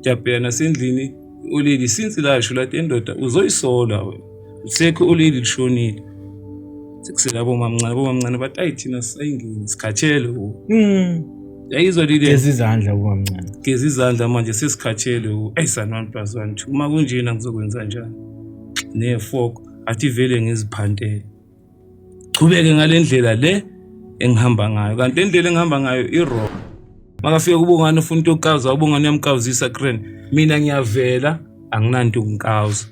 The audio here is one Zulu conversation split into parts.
Jabhela nasendlini ulili since lasho lathi endoda uzoyisola wena usekho ulili lishonile sekusela bomamncane bomamncane bathi ayi thina sisayingeni sikhathele wo mm. yayizwa lile geza izandla bomamncane geza izandla manje sesikhathele wo ayi sanwani plus one two uma kunjena ngizokwenza njani nefoko athi vele ngiziphantele qhubeke ngale ndlela le engihamba ngayo kanti le ndlela engihamba ngayo i-wrong makafika kubongane ufuna into yokuqawuza ubongane uyamqawuzisa kren mina ngiyavela anginanto yokunqawuza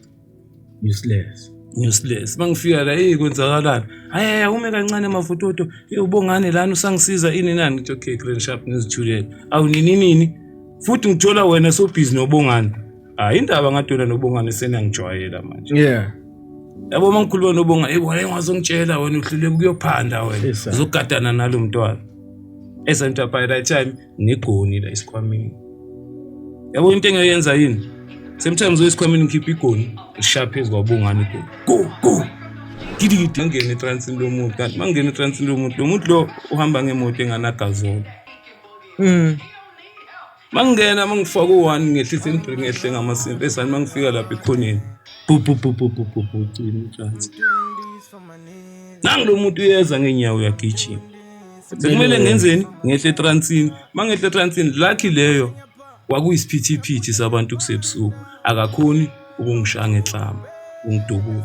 useless useless mangifika la hey kwenzakalani hayi ume kancane mavutoto hey ubongane lana usangisiza ini nani ngithi okay grand sharp ngizithulele awunini nini futhi ngithola wena so busy nobongane hayi indaba ngadwela nobongane seniyangijwayela manje yeah yabo uma ngikhuluma nobonga hey wena ungazongitshela wena uhluleka ukuyophanda wena Yes, sir. uzogadana nalo mntwana esanto by that time ngigoni la esikhwameni yabo into engayenza yini sometimes oyesikhwameni ngikhipha igoni ngisha phezu kwabongane igoni go go gidigidi ngingene etransini lomuntu kanti uma ngingena etransini lomuntu lo muntu lo uhamba ngemoto enganagazolo Mm. mangingena mangifaka u-one ngehlisa inibri ngehle ngamasimpi esani mangifika lapha ekhoneni bububububububutshani nangu lo muntu uyeza ngeenyawo uyagijima sekumele ngenzeni ngehle etransini uma ngehle etransini lucky leyo kwakuyisiphithiphithi sabantu kusebusuku akakhoni ukungishaya ngehlamba ungidubula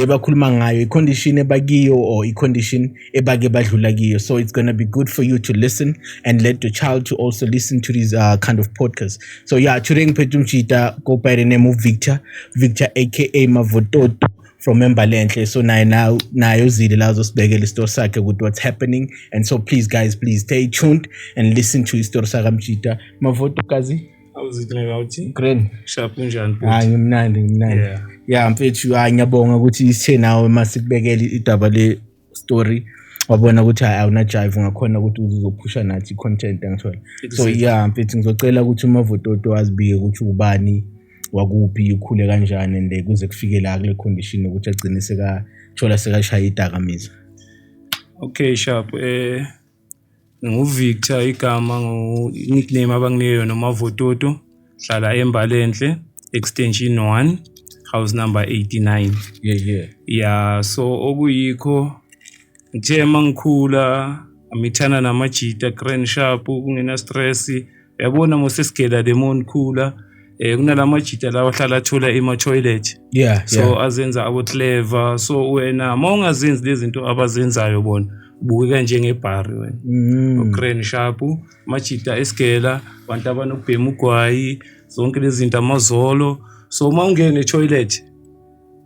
le bakhuluma ngayo i-condition ebakiyo or i-condition ebake badlula kiyo so it's gonna be good for you to listen and let your child to also listen to these uh, kind of podcasts so yeah today ngiphethe umjita go by the name of victor victor aka mavototo from Embalenhle. So naye now naye uzile la uzosibekela isitori sakhe ukuthi what's happening. And so please guys, please stay tuned and listen to isitori saka Mjita. Mavoto kazi. Green. Hayi ngimnandi ngimnandi. Yeah. Yeah mfethu hayi ngiyabonga ukuthi isithe nawe masikubekele idaba le story wabona ukuthi hayi awuna jive ngakhona ukuthi uzophusha nathi content angithola. So yeah mfethu ngizocela ukuthi uma vototo azibike ukuthi ubani wakuphi ukhule kanjani and kuze kufike la kule condition ukuthi agcine sekathola sekashaya idakamizwa. Okay sharp eh NginguVictor igama nickname abanginike yona uMavototo. Ngihlala eMbalenhle extension 1 house number 89. Yeah yeah. Yeah so okuyikho ngithe mangikhula ngithanda namajita grand sharp kungena stress. yabona mosesigela le mon khula eh kunala majita lawa ahlala athola ema toilet yeah so yeah. azenza abo clever so wena mawungazenzi lezinto abazenzayo bona bukeka njengebhari wena mm. ugrand sharp majita esigela abantu abanokubhema ugwayi zonke lezi zinto amazolo so uma ungene etoilet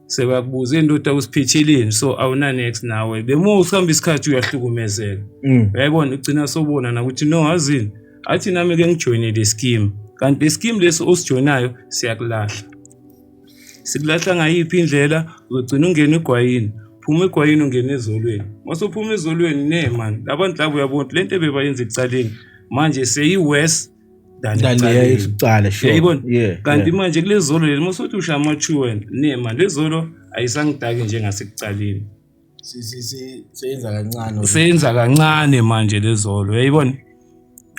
sebakubuza indoda usiphithilini so awuna next nawe bemo usihamba isikhathi uyahlukumezeka mm. yayibona ugcina sobona nakuthi no hazini athi nami ke ngijoyine le scheme kanti le scheme lesi osijoyinayo siyakulahla sikulahla ngayiphi indlela uzogcina ungena egwayini phuma egwayini ungena ezolweni masophuma ezolweni ne mani labantu labo uyabona le nto bebayenza ekucaleni manje seyi-west ndaniyaisicala sure yeah, kanti yeah. manje kulezolo leli musothi usha amachu wena nema lezolo ayisangidaki njengasekuqaleni seyenza kancane seyenza kancane manje lezolo uyayibona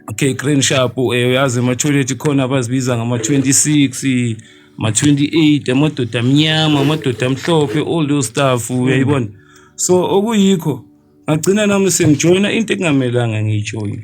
okay green sharp eh, uyazi ama-toilet khona abazibiza ngama-26 ma-28 amadoda amnyama amadoda amhlophe all those stuff uyayibona so okuyikho ngagcina nami sengijoyina into ekungamelanga ngiyijoyine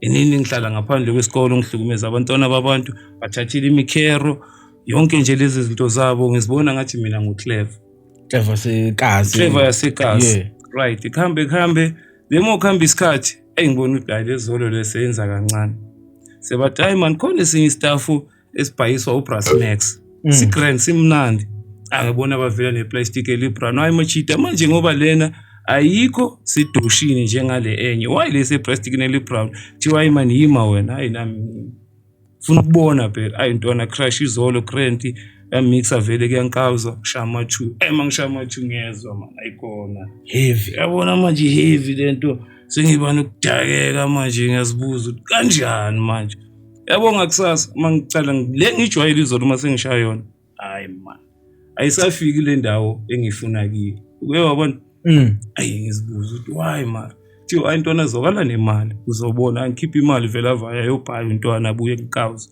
inini ngihlala ngaphandle kwesikole ngihlukumeza abantwana babantu bathathile imikhero yonke nje lezi zinto zabo ngizibona ngathi mina nguclever clever sekazi clever yasekazi yeah. right kuhambe kuhambe lemo kuhamba isikhathi eyi ngibona ukuthi hayi lezolo leseyenza kancane sebathi hayi mani khona esinye istafu esibhayiswa ubrass max mm. sigrand simnandi angibona bavela neplastic elibrown hayi machita manje ngoba lena ayikho sidushini njengale enye why lese plastic nelibrown kuthiwa hayi mani yima wena hayi nami funa ukubona phela ayi ntwana crash izolo krenti yamixa vele kuyankawuzwa shama two ema eh, ngishama two ngiyezwa mani ayikhona heavy yabona manje heavy lento sengiba nokudakeka manje ngiyazibuza ukuthi kanjani manje yabo ngakusasa uma ngicala le ngijwayele izolo uma sengishaya yona hayi mani ayisafiki le ndawo engiyifuna kiyo uke wabona mm. ayi ngizibuza ukuthi why mara kuthiwa hayi ntwana zwakala nemali uzobona angikhiphe imali vele avaya yobhaya intwana abuye kuqawuza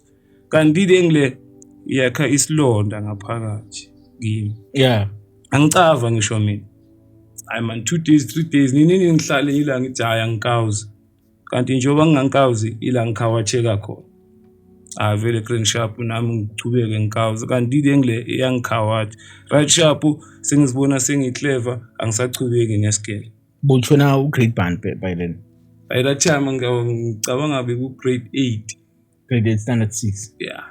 kanti le ngile yakha isilonda ngaphakathi kimi yeah angicava ngisho mina hayi man two days three days nini nini ngihlale ngila ngijaya ngikawuza kanti njengoba ngingangikawuzi ila ngikhawatsheka khona ah vele green sharp nami ngichubeke ngikawuzi kanti ile ngile iyangikhawathi right sharp sengizibona sengiclever angisachubeki nesigele butshona ugrade band by then by that time ngicabanga beku-grade eight grade 8 standard 6 yeah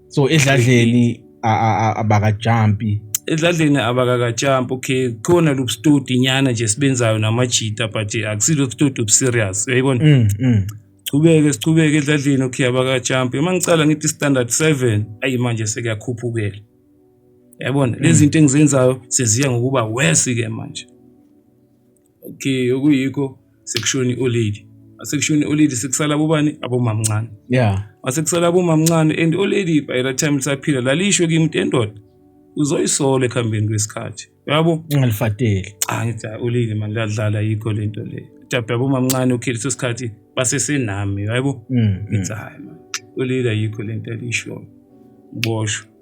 so edladleni abakajampi edladleni abakakajampi okay khona lo studio nyana nje sibenzayo namajita but akusilo studio serious uyayibona mm, mm. sichubeke sichubeke edladleni okay abakajampi uma ngicala ngithi standard 7 ayi manje sekuyakhuphukela yabona lezi mm. zinto engizenzayo seziya ngokuba worse ke manje Okay, okuyikho sekushoni olady. Asekushoni olady sekusala bobani abomamncane. Yeah. Asekusala abomamncane and olady by that time lisaphila lalisho kimi into endoda. Uzoyisola ekuhambeni kwesikhathi. Yabo? Ungalifateli. Cha ngithi olady manje ladlala yikho lento le. Dabda abomamncane okay leso sikhathi basesenami, yabo? Mm, mm. Ngithi hayi manje. Olady ayikho lento alisho. Ngibosho.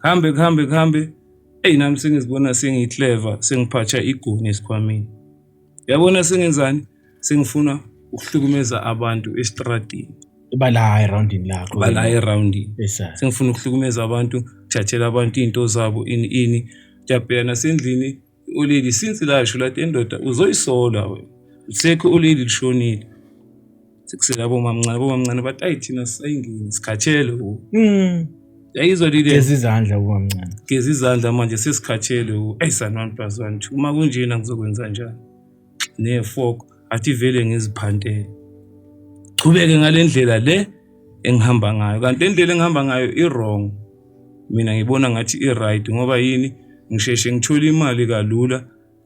kuhambe kuhambe kuhambe eyi nami sengizibona sengiyihleva sengiphatsha igoni esikhwameni yabona sengenzani sengifuna ukuhlukumeza abantu esitradini bala erundini lakho bala erundini sengifuna ukuhlukumeza abantu thathela abantu izinto zabo ini ini jabhela nasendlini Ulili since lasho lathi endoda uzoyisola wena. Usekho ulili lishonile. Sikusela bomamncane bomamncane bathi ayi thina sisayingini sikhathele wo. Mm. Yayizwa lile Geza izandla ubamncane. geza izandla manje sesikhathele wo. Ayi sanwani plus one two. Uma kunjena ngizokwenza njani? nefoko athi vele ngiziphantele chubeke ngale ndlela le engihamba ngayo kanti le ndlela engihamba ngayo i-wrong mina ngibona ngathi i-right ngoba yini ngisheshe ngithole imali kalula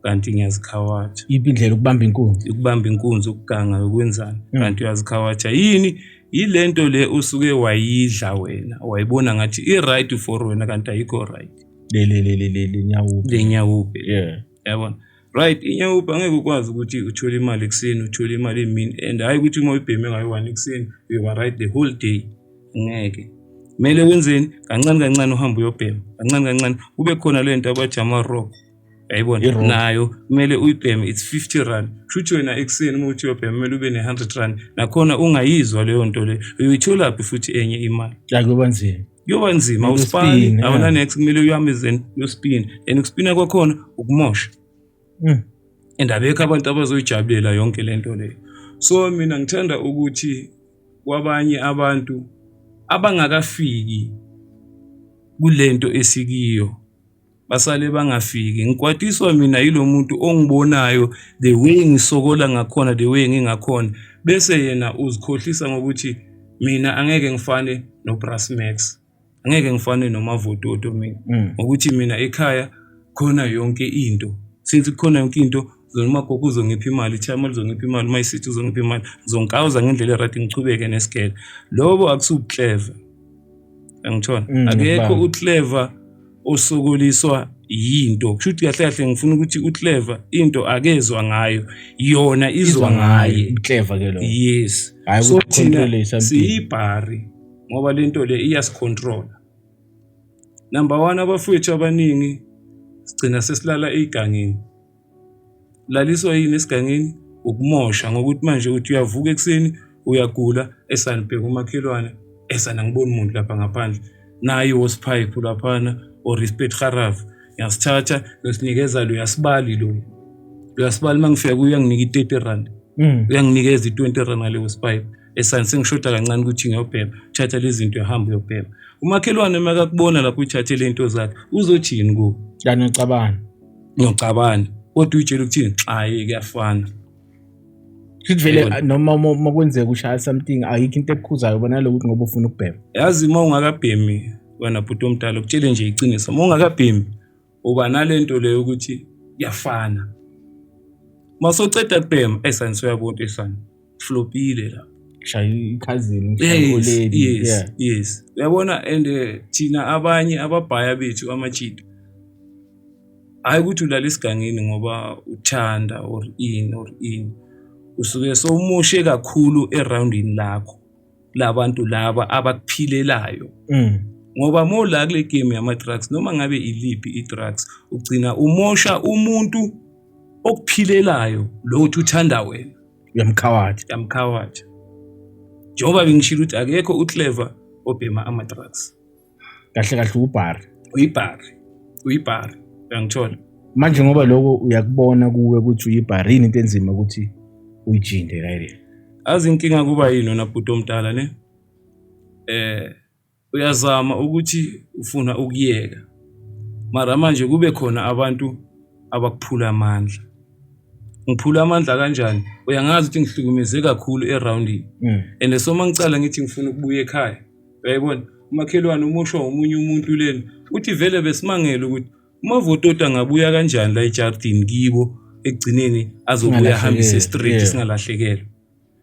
kanti ngiyazikhawatsha yiphi indlela ukubamba inkunzi ukubamba inkunzi ukuganga yokwenzani hmm. kanti uyazikhawatsha yini yile nto le usuke wayidla wena wayibona ngathi i-right for wena kanti ayikho right le nyawupe le nyawupe yeah yabona Right, inyawupa angeke ukwazi ukuthi uthole imali ekuseni uthole imali emini and hhayi ukuthi uma uyibheme ngayo one ekuseni uyoba right the whole day ngeke kumele wenzeni kancane kancane uhambe uyobhema kancane kancane kube khona le nto abathi ama-rock yayibona nayo kumele uyibheme it's 50 rand kushuthi wena ekuseni uma uthi uyobhema kumele ube ne-100 rand nakhona ungayizwa leyo nto leyo uyoyitholaphi futhi enye imali yakuba nzima kuyoba nzima uspani awona next kumele uhambe then uyospina and ukuspina kwakhona ukumosha mm. and abekho abantu abazoyijabulela yonke le nto leyo so mina ngithanda ukuthi kwabanye abantu abangakafiki kule nto esikiyo basale bangafiki ngikwatiswa mina yilo muntu ongibonayo the way ngisokola ngakhona the way ngingakhona bese yena uzikhohlisa ngokuthi mina angeke ngifane noBrass Max angeke ngifane nomavototo mina mm. ngokuthi mina ekhaya khona yonke into since kukhona yonke into zona umagogo uzongipha imali ichama lizongipha imali uma isithi uzongipha imali ngizongikawuza ngendlela erati ngichubeke nesigele lobo akusukleva angitshona mm, akekho ukleva osokoliswa yinto kusho ukuthi kahle kahle ngifuna ukuthi ukleva into akezwa ngayo yona izwa ngaye ukleva ke lo yes so thina siyibhari ngoba lento le iyasicontrola number 1 abafowethu abaningi sigcina sesilala egangeni laliswa yini esigangeni ukumosha ngokuthi manje uthi uyavuka ekuseni uyagula esanibheka umakhelwane esana ngiboni muntu lapha ngaphandle naye wosiphayiphu laphana or respect haraf ngyasithatha ngisinikeza lo yasibali lo uyasibali uma ngifika kuyo uyanginika i-thirty rand mm. uyanginikeza i-twenty rand ngaleyo sipipe esani sengishoda kancane ukuthi ngiyobhema thatha lezi zinto ehamba uyobhema umakhelwane uma kakubona lapho uthathe le nto zakhe uzothini kuwo kanocabana ngiyocabana kodwa uyitshela ukuthini xaye kuyafana Sivele noma uma kwenzeka ushaya something ayikho into ekukhuzayo bona lokuthi ngoba ufuna ukubhema. Yazi uma ungakabhemi wena bhuti omdala ukutshele nje iqiniso. Uma ungakabhemi uba nalento leyo ukuthi kuyafana. Masoceda kubhema esansoya bonke sana. flopile la shaya ikhazini yes, yes, yeah. yes uyabona and eh, thina abanye ababhaya bethu amachita hayi ukuthi ulala esigangeni ngoba uthanda or in or in usuke sowumushe kakhulu eroundini lakho labantu laba abakuphilelayo mm. ngoba mola kule game yama-drugs noma ngabe iliphi i-drugs ugcina umosha umuntu okuphilelayo lo uthi uthanda wena yamkhawathi yamkhawathi njengoba bengishilo ukuthi akekho uclever obhema ama-drugs kahle kahle ubhari uyibhari uyibhari uyangithola manje ngoba lokho uyakubona kuwe ukuthi uyibhari yini into enzima ukuthi uyijinde kayile azi inkinga kuba yini wena bhuti omdala ne eh uyazama ukuthi ufuna ukuyeka mara manje kube khona abantu abakuphula amandla ngiphula amandla kanjani uyangazi ukuthi ngihlukumeze kakhulu eroundini mm. and so uma ngicala ngithi ngifuna ukubuya ekhaya Uyayibona? Umakhelwane umushwa womunye umuntu lena. Uthi vele besimangele ukuthi umavototi angabuya kanjani la ejardini kibo ekugcineni azobuya ahambise estraight singalahlekelwa.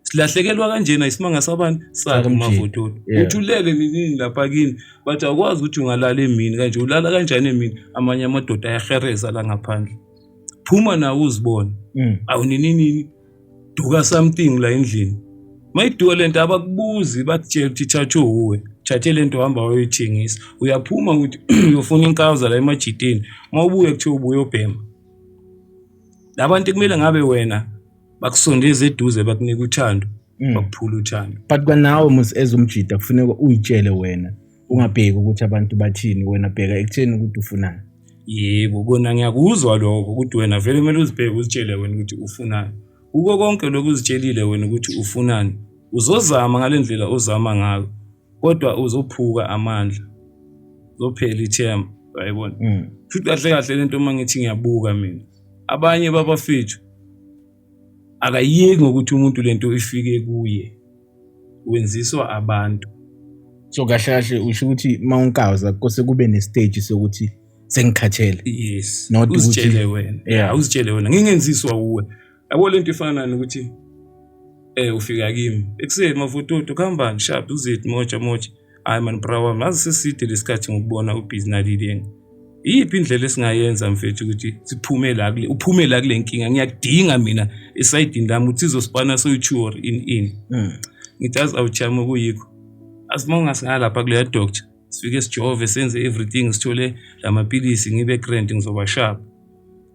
Silahlekelwa kanjena isimanga sabani sakhe umavototi. Uthulele nini lapha kini bathi awukwazi ukuthi ungalala emini kanje ulala kanjani emini amanye amadoda ayahereza la ngaphandle. Phuma nawe uzibone. Mm. Awunini nini duka something la endlini mayiduka le nto abakubuzi bakutshela ukuthi thatha uwe thathe le nto uhamba wayoyithengisa uyaphuma ukuthi uyofuna inkawuza la emajitini uma ubuye kuthiwa ubuye obhema la bantu kumele ngabe wena bakusondeze eduze bakunika uthando mm. bakuphula uthando but kwanawe mus ezumjida kufuneka uyitshele wena ungabheki ukuthi abantu bathini wena bheka ekutheni ukuthi ufunani yebo kona ngiyakuzwa lokho ukuthi wena vele kumele uzibheke uzitshele wena ukuthi ufunani kuko konke lokhu uzitshelile wena ukuthi ufunani uzozama ngale ndlela ozama ngayo kodwa uzophuka amandla uzophela ithemba uyayibona mm. futhi kahle kahle lento uma ngithi ngiyabuka mina abanye babafethu akayeki ngokuthi umuntu lento ifike kuye wenziswa abantu so kahle kahle usho ukuthi uma unkawuza kose kube nestage sokuthi sengikhathele yes not uzitshele wena yeah uzitshele wena ngingenziswa kuwe yabo lento ifana nokuthi eh ufika kimi ekuseni mavutoto kuhambani sharp uzit moja moja Hayi mani bra wami ngaze seside lesikhathi ngokubona ubhizi nalileni. Iyiphi indlela esingayenza mfethu ukuthi siphume la kule uphume la kule nkinga ngiyakudinga mina esayidini lami uthi izosipana soyithuor in in. Mm. Ngithi azi awuchama kuyikho. Asimonga singalapha kuleya doctor sifike sijove senze everything sithole lamapilisi ngibe grand ngizoba sharp.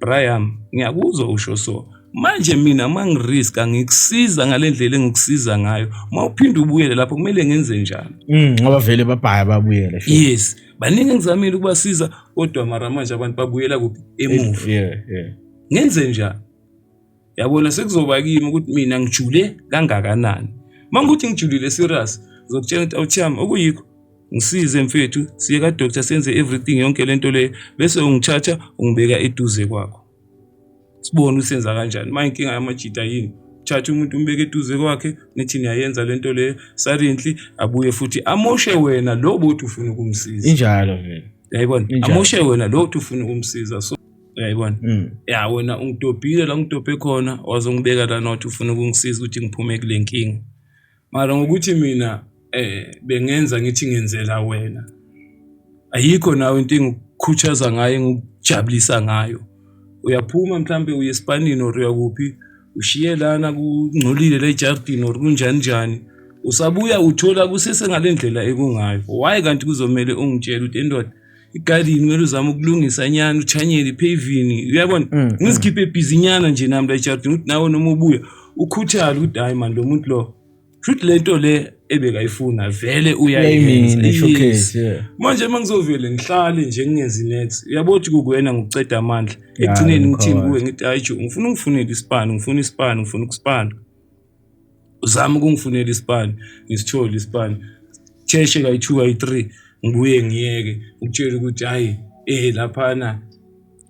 Brian, ngiyakuzwa usho so. Manje mina mangiriska ngikusiza ngalendlela engikusiza ngayo. Mawuphinde ubuyele lapho kumele ngenze njalo. Mm, ngoba vele babhaya babuyele. Yes. Baningi engizamile ukubasiza kodwa mara manje abantu babuyela kuphi emuva. Yeah, yeah. Ngenze njalo. Yabona sekuzoba kimi ukuthi mina ngijule kangakanani. Uma ngithi ngijulile serious ngizokutshela ukuthi awuthiyami okuyikho ngisize mfethu siye kadoctor senze everything yonke le nto leyo bese ungithatha ungibeka eduze kwakho sibone usenza kanjani uma inkinga yamajita yini thatha umuntu umbeke eduze kwakhe nithi niyayenza le nto leyo silently abuye futhi amoshe wena lo bothi ufuna ukumsiza injalo vele yayibona amoshe wena lo uthi ufuna ukumsiza so uyayibona mm. ya wena ungidobhile la ungidobhe khona wazongibeka la nothi ufuna ukungisiza ukuthi ngiphume kule nkinga mara ngokuthi mina eh bengenza ngithi ngenzela wena ayikho nawe into engikhuthaza ngayo engikujabulisa ngayo uyaphuma mhlambe uye esipanini or uyakuphi ushiye lana kungcolile le jardin or kunjani njani usabuya uthola kusese ngale ndlela ekungayo why kanti kuzomele ungitshele ukuthi endoda igadini kumele uzame ukulungisa nyana uchanyele iphevini uyabona mm, mm. ngizikhiphe ebhizinyana nje nami la ejardini ukuthi nawe noma ubuya ukhuthale ukuthi hayi mani lo muntu lo shuthi le nto le ebekayifuna vele uyayenza manje uma ngizovele ngihlale nje ngingenzi next uyabona ukuthi kukuwena ngikuceda amandla ekugcineni ngithini kuwe ngithi hayi jo ngifuna ungifunele isipani ngifuna isipani ngifuna ukusipana uzama ukungifunela isipani ngisithole isipani cheshe kayi-two kayi-three ngibuye ngiyeke ukutshela ukuthi hhayi eh laphana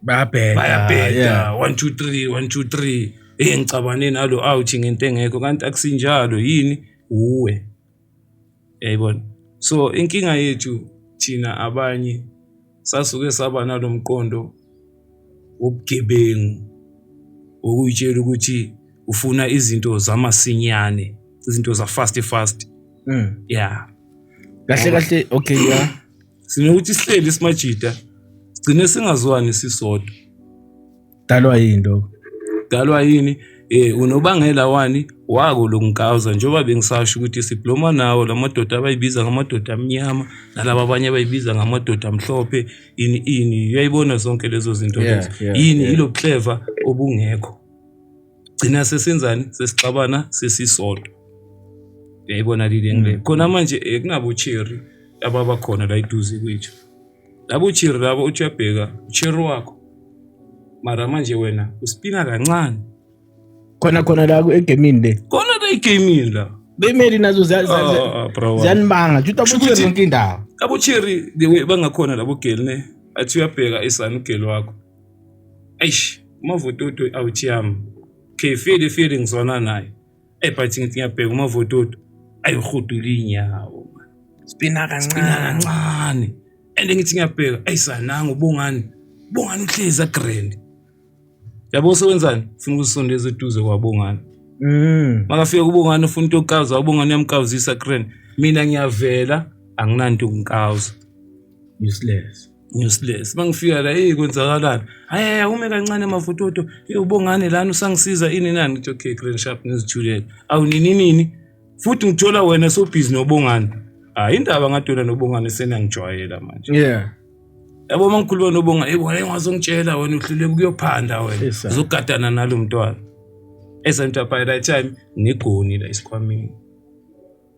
bayabheda bayabheda one two three one two three eh ngicabane nalo out ngento engekho kanti akusinjalo yini uwe Yayibona? So inkinga yethu thina abanye sasuke saba nalo mqondo wobugebengu wokuyitshela ukuthi ufuna izinto zamasinyane, izinto za-fast fast. Mm. Yeah. Kahle kahle okay yeah. Sinokuthi sihleli simajita sigcine singazwani sisodwa. dalwa yini lokho dalwa yini eh unobangela wani wako lokungawuza njengoba bengisasho ukuthi sibloma nawo lamadoda abayibiza ngamadoda amnyama nalabo abanye abayibiza ngamadoda amhlophe ini ini uyayibona zonke lezo zinto lezo yini ilo clever obungekho gcina sesenzani sesixabana sesisodwa uyayibona lile ngile khona manje eh, kunabo cherry ababakhona la iduze kwethu Labo uchiri labo uthi uyabheka uchiri wakho mara manje wena uspina kancane khona khona la egemini le khona la egemini la bemeli nazo ziyanibanga juta bucheri yonke indawo abucheri the way bangakhona labo geli ne athi uyabheka isani ugeli wakho eish umavototo awuthi yami okay fili fili ngizwana naye Hey, but ngithi ngiyabheka umavototo ayirhudula iy'nyawo sibina kancane kancane and ngithi ngiyabheka eyi sananga ubongani ubongani uhlezi agrand yabo sewenzani ufuna ukusondeza eduze kwabongani mm. makafika kubongani ufuna into yokukaza ubongani uyamkawuzisa grand mina ngiyavela anginanto ukunkaza useless useless mangifika la hey kwenzakalani hayi ume kancane mavutoto ubongane lana usangisiza ini nani ngithi okay grand sharp ngizithulele awu nini nini futhi ngithola wena so busy nobongane hayi indaba ngadona nobongane senangijwayela manje yeah yabo mangikhuluma nobonga hey wena ngazongitshela wena uhluleka ukuyophanda wena uzogadana nalo mntwana esentu by that time ngigoni la isikhwameni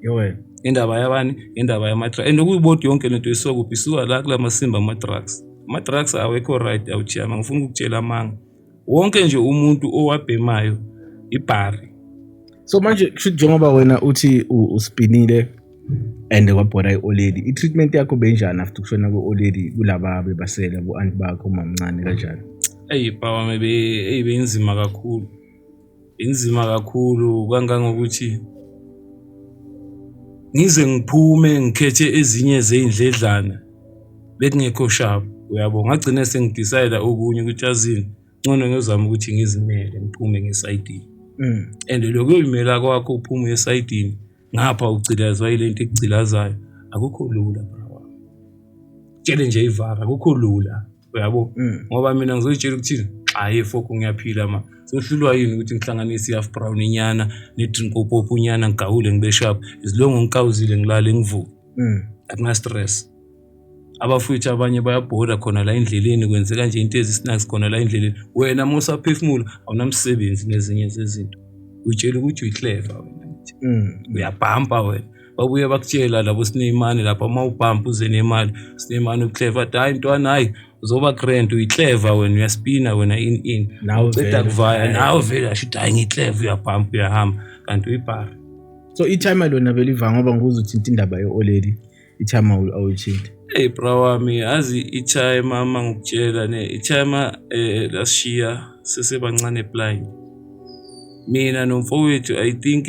Yowena. Indaba yabani? Indaba yama drugs. And ukuyibodi yonke lento isuka kuphi? Isuka la kula masimba ama drugs. Ama drugs awekho right awuchiyama ngifuna ukukutshela amanga. Wonke nje umuntu owabhemayo ibhari. So manje kusho njengoba wena uthi uspinile and kwabhora i-oledi i-treatment yakho benjani after ukushona kwe-oledi kulaba bebasela bo-anti bakho umamncane kanjani eyi power maybe eyi beyinzima kakhulu Inzima kakhulu kangangokuthi ngize ngiphume ngikhethe ezinye zey'ndledlana bekungekho shabu uyabo ngagcine sengidisayida okunye ukuthi azini ncono ngiyozama ukuthi ngizimele ngiphume ngesayidini mm. and lokho yimela kwakho uphume esayidini ngapha ugcilazwa yile nto ekugcilazayo akukho lula bra wami tshele nje ivara akukho lula uyabo mm. ngoba mina ngizoyitshela ukuthini hayi foko ngiyaphila ma sohlulwa yini ukuthi ngihlanganise i-half brown inyana ne-drinkopop unyana ngigawule ngibe sharp izilongo ngikawuzile ngilale ngivuke mm. akunastress abafowethu abanye bayabhoda khona la endleleni kwenzeka nje into ezisnacks khona la endleleni wena uma usaphefumula awunamsebenzi nezinye zezinto uyitshela ukuthi uyiclever wena mm. uyabhampa wena babuye bakutshela labo sinemali lapha uma ubhampa uze nemali sinemali uclever athi hhayi ntwana hhayi uzoba grand uyiclever wena uyaspina wena in in Nawe uceda vele. kuvaya nawe vele asho ukuthi hhayi ngiclever uyabhampa uyahamba kanti uyibhara so ithayima lona beliva ngoba nguze uthinta indaba yo-oleli ithayima awu- awuyithinti Hey bra wami azi ichaya mama ngikutshela ne ichaya ma eh, lashiya sesebancane blind mina nomfowethu i think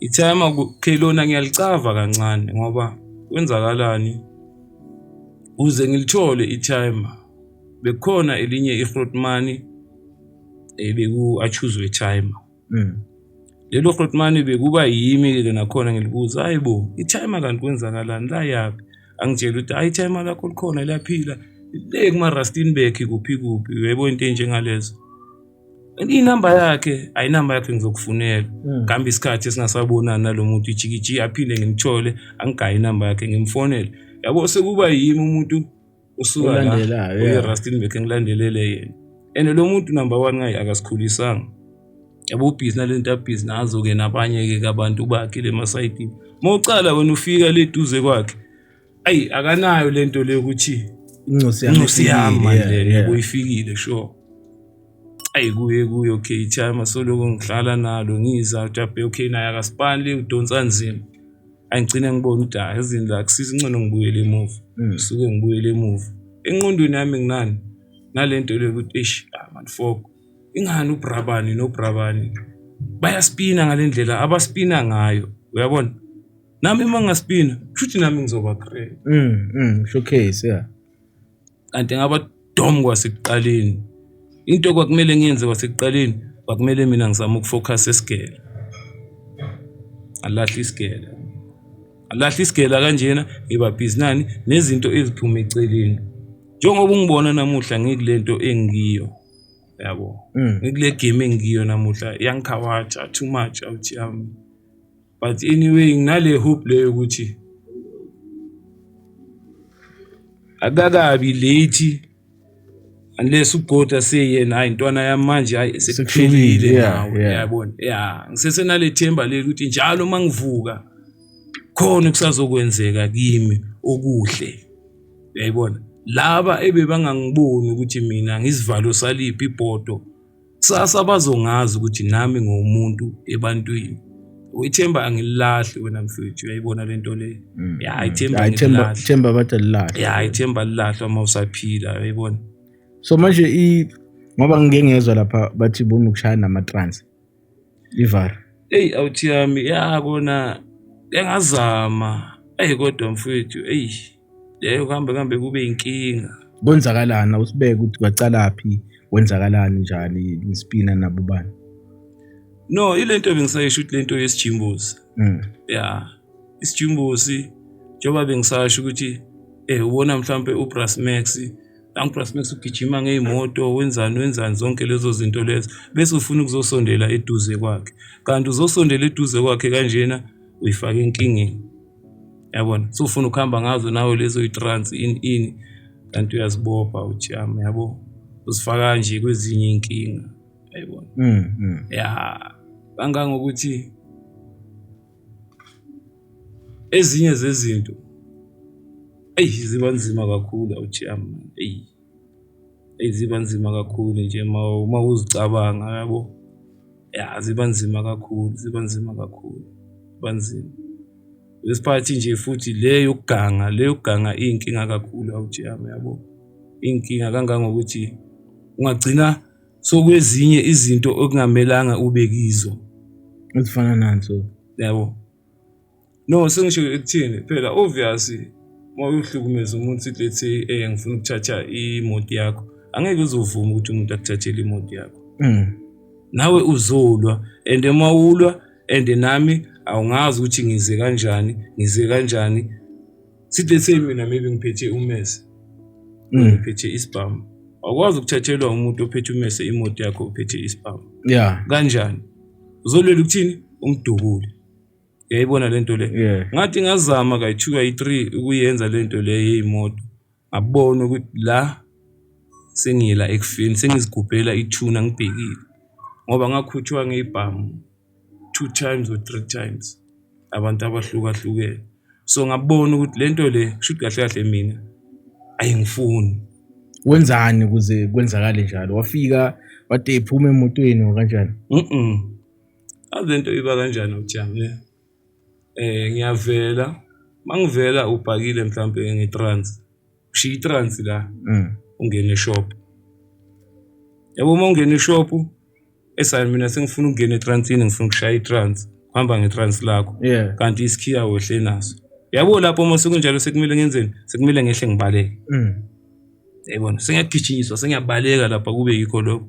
Ithema okay lona ngiyalicava kancane ngoba kwenzakalani uze ngilithole ithema bekukhona elinye ihrotmani ebeku eh, achuzwe timer mm. lelo hrotmani bekuba yimi ke nakhona ngilibuza hayibo ithema kanti kwenzakalani la yaphi angitshela ukuthi hayi ithema lakho likhona liyaphila le kuma Rustenburg kuphi kuphi uyebo into enjengalezo inamba yakhe ayinamba yakhe ngizokufunela hmm. kambe isikhathi esingasabonani nalo muntu ijikiji aphinde ngimthole angigaye inamba yakhe ngimfonele yabo sekuba yimi umuntu usuka la uyi-rustin bekhe ngilandelele yena and lo muntu number one ngaye akasikhulisanga yabo ubhizi nale nto abhizi nazo-ke nabanye-ke kabantu bakhe le masayidini uma ucala wena ufika le duze kwakhe ayi akanayo lento le ukuthi incosi yami incosi yami manje yebo ifikile sure ayi kuye kuye okay time asoloko ngihlala nalo ngiza ujabe okay naye akasipali udonsa nzima angigcine ngibona ukuthi hayi ezini la kusisa incono ngibuyele emuva mm. suke ngibuyele emuva enqondweni yami nginani nalento le ukuthi eish ah man fok ingani ubrabani nobrabani bayaspina ngalendlela abaspina ngayo uyabona nami uma ngaspina kushuthi nami ngizoba great mm, mm, showcase yeah kanti ngaba dom kwasekuqaleni into kwakumele ngiyenze kwasekuqaleni kwakumele mina ngizama ukufocus esigele alahle isigele alahle isigela kanjena ngiba busy nani nezinto eziphuma eceleni njengoba ungibona namuhla ngikule nto engiyo yabo mm. ngikule game engiyo namuhla yangikhawatsha too much out yami but anyway nginale hope leyo ukuthi akakabi late unless ugoda seyena hayi ntwana yami manje hayi sekuphelile nawe yabona ya ngisesenale themba leli ukuthi njalo uma ngivuka khona okusazokwenzeka kimi okuhle uyayibona laba ebebangangiboni ukuthi mina ngisivalo saliphi ibhodo kusasa bazongazi ukuthi nami ngomuntu ebantwini ithemba angililahli wena mfethu uyayibona le nto le mm, ya mm. ithemba ithemba bathi alilahle ya ithemba alilahlwa uma usaphila uyayibona so manje i ngoba ngike ngezwa lapha bathi bona ukushaya nama-trans ivar eyi awuthi yami ya kona engazama eyi kodwa mfethu eyi Leyo kuhambe kuhambe kube inkinga. Kwenzakalani awusibeke ukuthi kwaqalaphi kwenzakalani njani ngispina nabo bani? No, ile nto bengisayisho ukuthi le nto yesijimbozi. Mm. Ya. Isijimbozi njengoba bengisasho ukuthi eh ubona mhlampe uBrass Max uBrass Max ugijima ngeyimoto wenzani wenzani zonke lezo zinto lezo bese ufuna ukuzosondela eduze kwakhe kanti uzosondela eduze kwakhe kanjena uyifaka enkingeni. Yabona? Usufuna ukuhamba ngazo nawe lezo yi-trans ini ini kanti uyazibopha uthi yami yabo. Uzifaka nje kwezinye iy'nkinga. Yayibona? Mm, mm. Ya. Kangangokuthi ezinye zezinto eyi ziba nzima kakhulu awuthi yami eyi. Eyi ziba nzima kakhulu nje uma uzicabanga yabo, ya ziba nzima kakhulu, ziba nzima kakhulu, ziba nzima. Lesi phakathi nje futhi le yokuganga, le yokuganga iyinkinga kakhulu awuthi yami yabo, iyinkinga kangangokuthi ungagcina sokwezinye izinto okungamelanga ube kizo. Ezifana nani so? Yabo. No sengisho ekuthini phela obvious uma uhlukumeza umuntu sithi let's say eh ngifuna ukuthatha imoto yakho angeke uzovuma ukuthi umuntu akuthathele imoto yakho mm. nawe uzolwa and uma ulwa and nami awungazi ukuthi ngize kanjani ngize kanjani sithi let's say mina maybe ngiphethe umese mm. ngiphethe isibhamu awukwazi ukuthathelwa umuntu ophethe umese imoto yakho ophethe isibhamu yeah kanjani uzolwela ukuthini umdubule uyayibona le nto le yeah. ngathi ngazama kayi-two kayi-three ukuyenza le nto le yeyimoto ngabona ukuthi la sengiyela ekufeni sengizigubhela ithuna ngibhekile ngoba ngakhutshwa ngey'bhamu two times or three times abantu abahlukahlukene so ngabona ukuthi le nto le kusho ukuthi kahle kahle mina ayingifuni wenzani ukuze kwenzakale njalo wafika wade ephuma emotweni or kanjani mm Azi lento iba kanjani ujamu ne? Ngiyavela, uma ngivela ubhakile mhlawumpe nge-trans, ushiya i-trans la, mm. ungene eshop. Yabo uma ungena eshop, esayo mina sengifuna ukungena etransini, ngifuna ukushaya i-trans, uhamba nge-trans lakho. Kanti isikhiya wehle naso. Yabo lapho uma sekunjalo sekumele ngenzeni? Sekumele ngehle ngibaleke. Mm. Yayibona, sengiyagijinyiswa, sengiyabaleka lapha kube yikho lokho.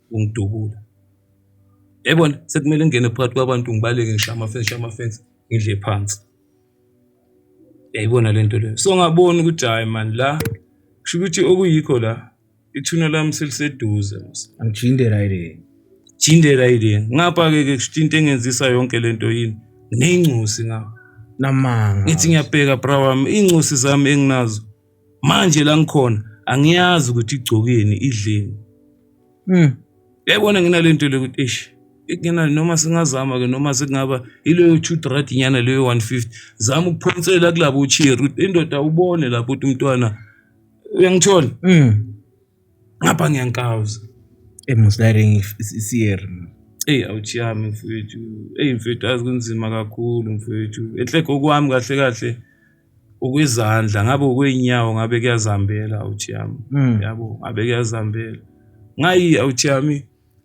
ungidubula yayibona sekumele ngingene phakathi kwabantu ngibaleke ngishaye amafensi shaye amafensi ngidle phansi yayibona lento leyo so ngabona ukuthi hayi man la kusho ukuthi okuyikho la ithuna lami seliseduze angijinde right jinde right ngapha ke ke kusho into engenzisa yonke lento yini ngineyincusi ngapha namanga ngithi ngiyabheka bra wami iy'ncosi zami enginazo manje la ngikhona angiyazi ukuthi igcokeni idleni mm yayibona nginalento le ukuthi eish ngena noma singazama ke noma sekungaba ileyo two rad nyana leyo 150 zama ukuphonsela kulabo cheer indoda ubone lapho ukuthi umntwana uyangithola mm Ngapha ngiyankawuza. Eyi musa ulayini isiyer. Eyi awuchiyami mfwethu. Eyi mfwethu azi kunzima kakhulu mfwethu. Enhle kokwami kahle kahle okwezandla ngabe okwey'nyawo ngabe kuyazihambela awuchiyami yabo ngabe kuyazihambela. Ngayi awuchiyami.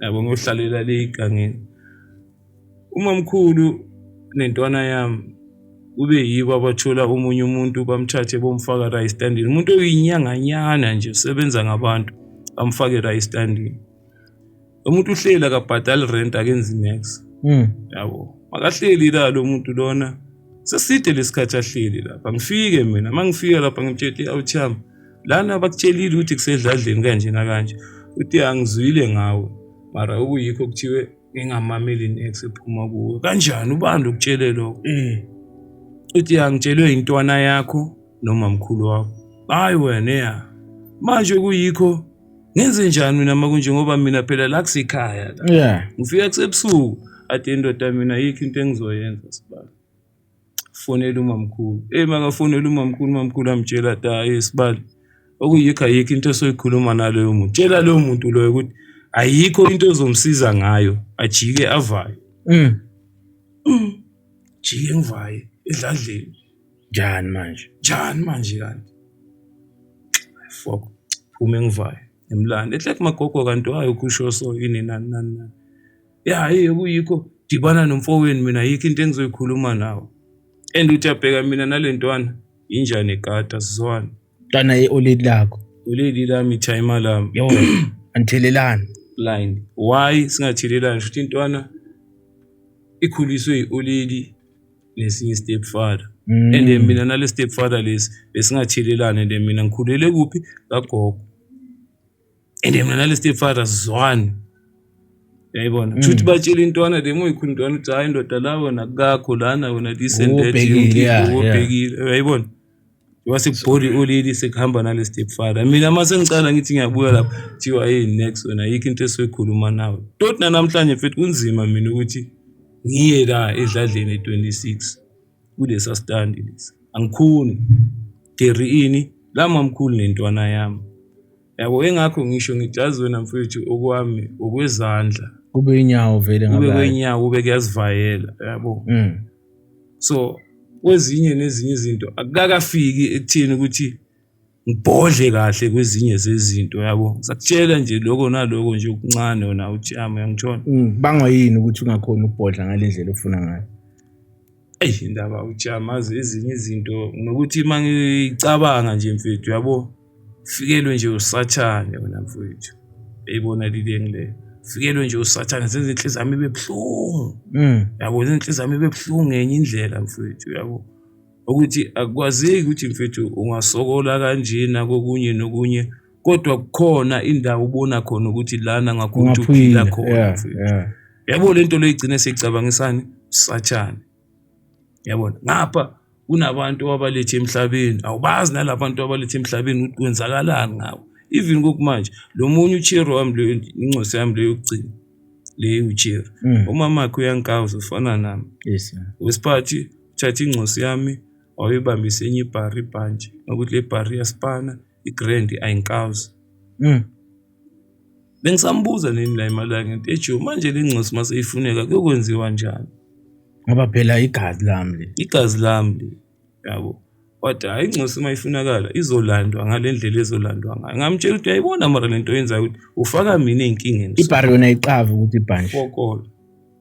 yabo ngiyohlalela le igangeni umamkhulu nentwana yami kube yibo abathola omunye umuntu bamthathe bomfaka la estandini umuntu oyinyanganyana nje usebenza ngabantu bamfake la estandini umuntu uhleli akabhadali rent akenzi nex hmm. yabo makahleli la lo muntu lona seside lesikhathi ahleli lapha ngifike mina uma ngifika lapha ngimtshete awuchama lana bakutshelile ukuthi kusedladleni kanje nakanje uthi angizwile ngawe mara okuyikho kuthiwe ngingamameli inex ephuma kuwe kanjani ubani lokutshele lokho mm. uthi angitshelwe intwana yakho noma mkhulu wakho hayi wena ya manje kuyikho ngenze njani mina uma kunje ngoba mina phela la kusekhaya la ngifika kusebusuku ade indoda mina yikho into engizoyenza sibani Fonela umamkhulu. Eyi makafonela umamkhulu, umamkhulu amtshela ati hhayi isibali. Okuyikho ayikho into esoyikhuluma naloyo muntu. Tshela loyo muntu loyo ukuthi ayikho into ezomsiza ngayo, ajike avayo. Mm. Jike ngivaye edladleni. Njani manje? Njani manje kanti? Ay, Fuck, phume ngivaye. Ngimlande. Ethi like magogo kanti wayo kusho so yini nani nani nani. ya hhayi okuyikho dibana nomfowenu mina yikho into engizoyikhuluma nawe and uthi abheka mina nale ntwana injani ekata sizwana ntwana ye-oledi lakho oledi lami ithayima lami yo anithelelani blind why singathelelani shuthi intwana ikhuliswe yi-oledi nesinye i-step father mm. and then mina nale step father lesi besingathelelani and then mina ngikhulele kuphi kagogo and mina nale stepfather sizwani yayibona mm. kushuthi batshela intwana le muyikhulu intwana ukuthi hayi ndoda la wena kakho lana wena this and that ubhekile uyayibona wasekubhori ulili sekuhamba nale stepfather mina uma sengicala ngithi ngiyabuya lapho kuthiwa hey next wena yikho into esoyikhuluma nawe toti nanamhlanje futhi kunzima mina ukuthi ngiye la edladleni e-26 kulesa stand lesi angikhoni Gary ini la mamkhulu nentwana yami yabo engakho ngisho ngijazi wena mfethu okwami okwezandla kube inyawo vele ngabe kube inyawo kube kuyazivayela yabo mm. so kwezinye nezinye izinto akakafiki ekutheni ukuthi ngibhodle kahle kwezinye zezinto yabo ngisakutshela nje lokho naloko nje okuncane wona ujama uyangitshona mm, bangwa yini ukuthi ungakhona ukubhodla ngale ndlela ofuna ngayo eyi indaba ujama azi ezinye izinto nokuthi uma ngicabanga nje mfethu yabo fikelwe nje usathane wena mfethu eyibona lileni leyo fikelwe nje usathane zenza inhliziyo yami ibe buhlungu mm. yabo zenza inhliziyo yami ibe buhlungu ngenye indlela mfethu yabo ukuthi akwazeki ukuthi mfethu ungasokola kanjena kokunye nokunye kodwa kukhona indawo ubona khona ukuthi lana ngakho ukuthi uphila khona yabo lento leyigcine sicabangisani sathane yabona ngapha kunabantu abalethe emhlabeni awubazi nalabantu abalethe emhlabeni ukuthi kwenzakalani ngabo even kokumanje lo munye uchero wami leyo incosi yami leyo yokugcina leyo uchero mm. umamakhe uyankawuza ufana nami yes wesiphathi Uthathe ingcosi yami wayibambisa enye ibhari ibhantshi nokuthi le bhari iyaspana igrand ayinkazi mm. bengisambuza nini la imali yakhe ngithi ejo manje le ngcosi uma seyifuneka kuyokwenziwa njani ngoba phela igazi lami le igazi lami le yabo but hayi ingcosi uma ifunakala izolandwa ngale ndlela ezolandwa ngayo ngamtshela ukuthi ayibona mara le nto yenzayo ukuthi ufaka mina ey'nkingeni ibhari yona iqava ukuthi ibhanje fokola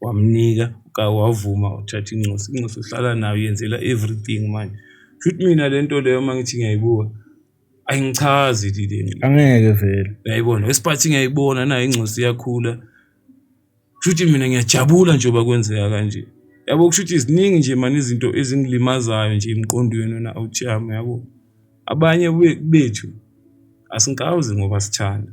Wamnika wavuma uthatha incosi, incosi uhlala nayo uyenzela everything manje. Kushuthi mina le nto leyo uma ngithi ngiyayibuka ayingichazi le nto. Angeke vele. Uyayibona, wesiphathi ngiyayibona nayo ingcosi iyakhula. Kushuthi mina ngiyajabula nje uba kwenzeka kanje. Yabo kushuthi ziningi nje mani izinto ezingilimazayo nje emqondweni wena awuthi yami yabo. Abanye bethu asingikawuzi ngoba sithanda.